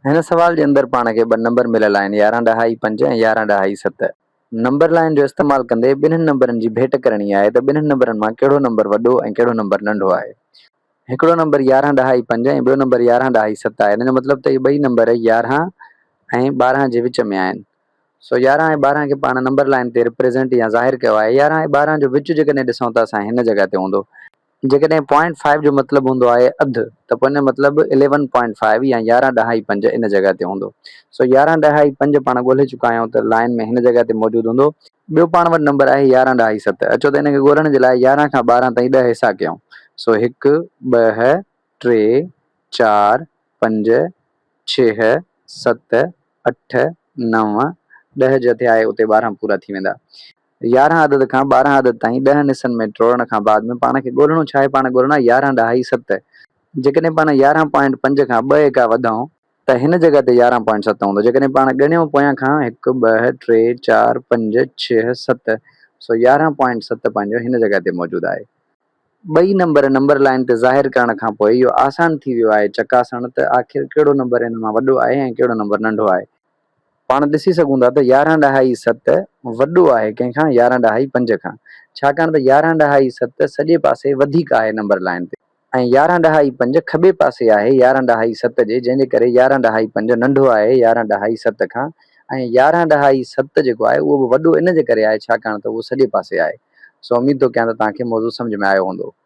هن سوال جي اندر پاڻ کي ٻه نمبر مليل آهن، يارهن ڏهائي پنج ۽ يارهن ڏهائي ست. نمبر لائين جو استعمال ڪندي ٻنهن نمبرن جي ڀيٽ ڪرڻي آهي ته ٻنهن نمبرن مان ڪهڙو نمبر وڏو ۽ ڪهڙو نمبر ننڍو آهي. هڪڙو نمبر يارهن ڏهائي پنج ۽ ٻيو نمبر يارهن ڏهائي ست آهي. ان جو مطلب ته اهي ٻئي نمبر يارهن ۽ ٻارهن جي وچ ۾ آهن. سو يارهن ۽ ٻارهن کي پاڻ نمبر لائين تي رپريزنٽ يا ظاهر ڪيو آهي. يارهن ۽ ٻارهن جو وچ جيڪڏهن ڏسون ته اسان هن جڳهه تي هوندو. جيڪڏهن پوائنٽ فائيو جو مطلب هوندو آهي اڌ ته پوء ان جو مطلب اليون پوائنٽ فائيو يا يارهن ڏهائي پنج ان جڳهه تي هوندو. سو يارهن ڏهائي پنج پاڻ ڳولهي چڪا آهيون ته لائين ۾ هن جڳهه تي موجود هوندو. ٻيو پاڻ وٽ نمبر آهي يارهن ڏهائي ست. اچو ته ان کي ڳولهڻ جي لاء يارهن کان ٻارهن تائين ڏهه حصا ڪيون. سو هڪ، ٻه، ٽي، چار، پنج، ڇهه، ست، اٺ، نو، ڏهه جتي آهي اتي ٻارهن پورا ٿي ويندا. يارهن عدد کان ٻارهن عدد تائين ڏهن حصن ۾ ٽوڙڻ کان بعد ۾ پاڻ کي ڳولڻو ڇا آهي؟ پاڻ ڳولڻا يارهن ڏهائي ست. جيڪڏهن پاڻ يارهن پوائنٽ پنج کان ٻه ايڪا وڌائون ته هن جڳهه تي يارهن پوائنٽ ست هوندو. جيڪڏهن پاڻ ڳڻيون پويان کان هڪ، ٻه، ٽي، چار، پنج، ڇهه، ست، سو يارهن پوائنٽ ست پنهنجو هن جڳهه تي موجود آهي. ٻئي نمبر نمبر لائين تي ظاهر ڪرڻ کان پوء اهو آسان ٿي ويو آهي چڪاسڻ ته آخر ڪهڙو نمبر ان مان وڏو آهي ۽ ڪهڙو نمبر ننڍو آهي. پاڻ ڏسي سگهون ٿا ته يارهن ڏهائي ست وڏو آهي ڪنهن کان يارهن ڏهائي پنج کان ڇاڪاڻ ته يارهن ڏهائي ست سڄي پاسي وڌيڪ آهي نمبر لائين تي ۽ يارهن ڏهائي پنج کٻي پاسي آهي يارهن ڏهائي ست جي جنهن جي ڪري يارهن ڏهائي پنج ننڍو آهي يارهن ڏهائي ست کان ۽ يارهن ڏهائي ست جيڪو آهي اهو به وڏو ان جي ڪري آهي ڇاڪاڻ ته اهو سڄي پاسي آهي سو اميد ٿو ڪيان ته توهان کي موضوع سمجهه ۾ آيو هوندو.